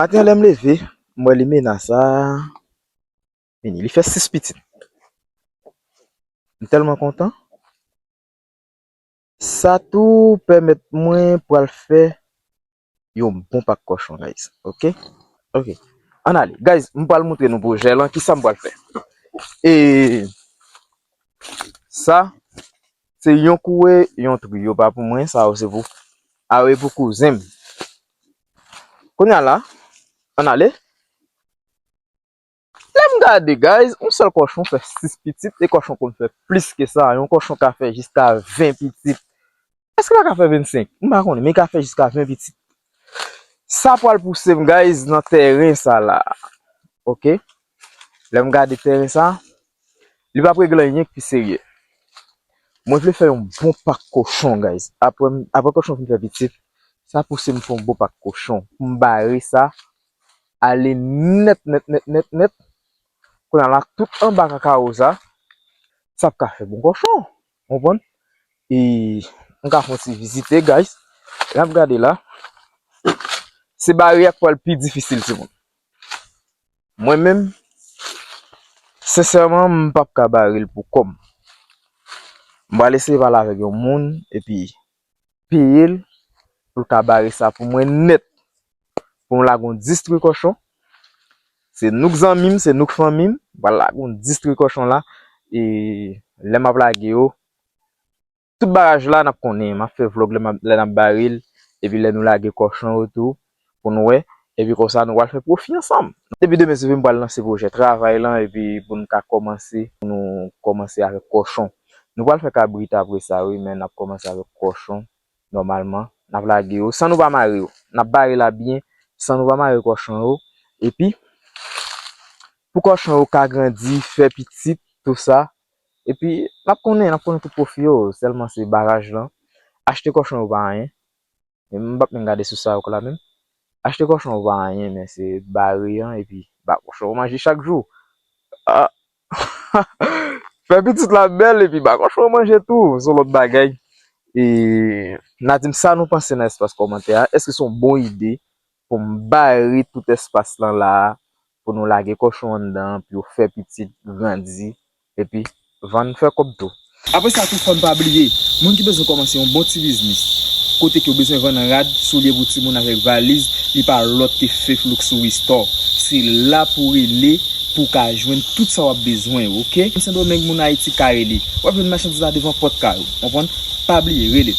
Maten an lè m leve, m wè Limena sa a vini. Li fè 6 pitit. M tèlman kontan. Sa tou pèmèt mwen pral fè yon bon pak kòchon guys. Ok. Ok. Ann ale. Guys, m pral montre nou pwojè lan. Kisa m pral fè? E Sa se yon kouwe, yon trio pa pou mwen. Sa yo se pou Sa yo e pou kouzen m. Kounya la Ann ale Lèm gade guys yon sèl kòchon fè 6 pitit e kòchon konn fè plis ke sa yon kòchon ka fè jiska 20 pitit èske pa ka fè 25 m pa konnen men ka fè jiska 20 pitit sa pwal pousem guys nan tèren sa la ok Lè m gade tèren sa, li pa p regle anyen ki serye. Mwen vle fè yon bon pak kochon guys. Aprè kochon fin fè pitit, sa pouse m fè yon bon pak kochon pou m bare sa ale nèt nèt nèt nèt nèt. Kounye la tout anba kakawo sa, sa p ka fè bon kochon. Ou konprann? E m ka fè yon ti vizite guys. N ap gade la. Se bare a k pral pi difisil timoun. Mwen menm, sensèman m p ap ka bare l pou kò m. M pral eseye pale avèk yon moun epi peye l pou l ka bare sa pou mwen nèt. Pou m lage yon distri kòchon, se nou k zanmi m, se nou k fanmi m, m pral lage yon distri kòchon la e lè m ap lage yo, Tout bagaj la nap konnen map fè vlog lè nap baril epi lè nou lage kòchon yo tou pou nou wè epi konsa nou pral fè pwofi ansanm. Depi demen se vre m pral lanse pwojè travay lan epi pou n ka kòmanse pou nou kòmanse avèk kòchon. Nou pral fè kabrit apre sa wi men nap kòmanse avèk kòchon nòmalman nap lage yo san nou pa mare yo nap bare la byen san nou pa mare kòchon yo epi pou kòchon yo ka grandi fè pitit tou sa Epi nap konnen nap konnen tout pwofi yo sèlman se baraj lan achte kòchon yo pa anyen m pap menm gade sous sa yo k la menm achte kòchon yo pa anyen men se bare an epi ba kòchon yo manje chak jou aahh fè pitit la bèl epi ba kòchon yo manje tou son lòt bagay e na di m sa nou panse nan espas kòmantè a èske son bon ide pou m bare tout espas lan la a pou nou lage kòchon anndan an pou yo fè pitit, grandi, epi vann fè kòb tou. Apre sa tou fò n pa bliye moun ki bezwen kòmanse yon bon ti biznis kote ke yo bezwen vann rad, soulye pou timoun avèk valiz li pa lòt ke Faith Luxury Store. Se la pou w rele pou w ka jwenn tout sa w ap bezwen yo ok. Sendomeng moun Ayiti kare li. W ap jwenn machandiz la devan pòt kay ou. Konprann? Pa bliye rele.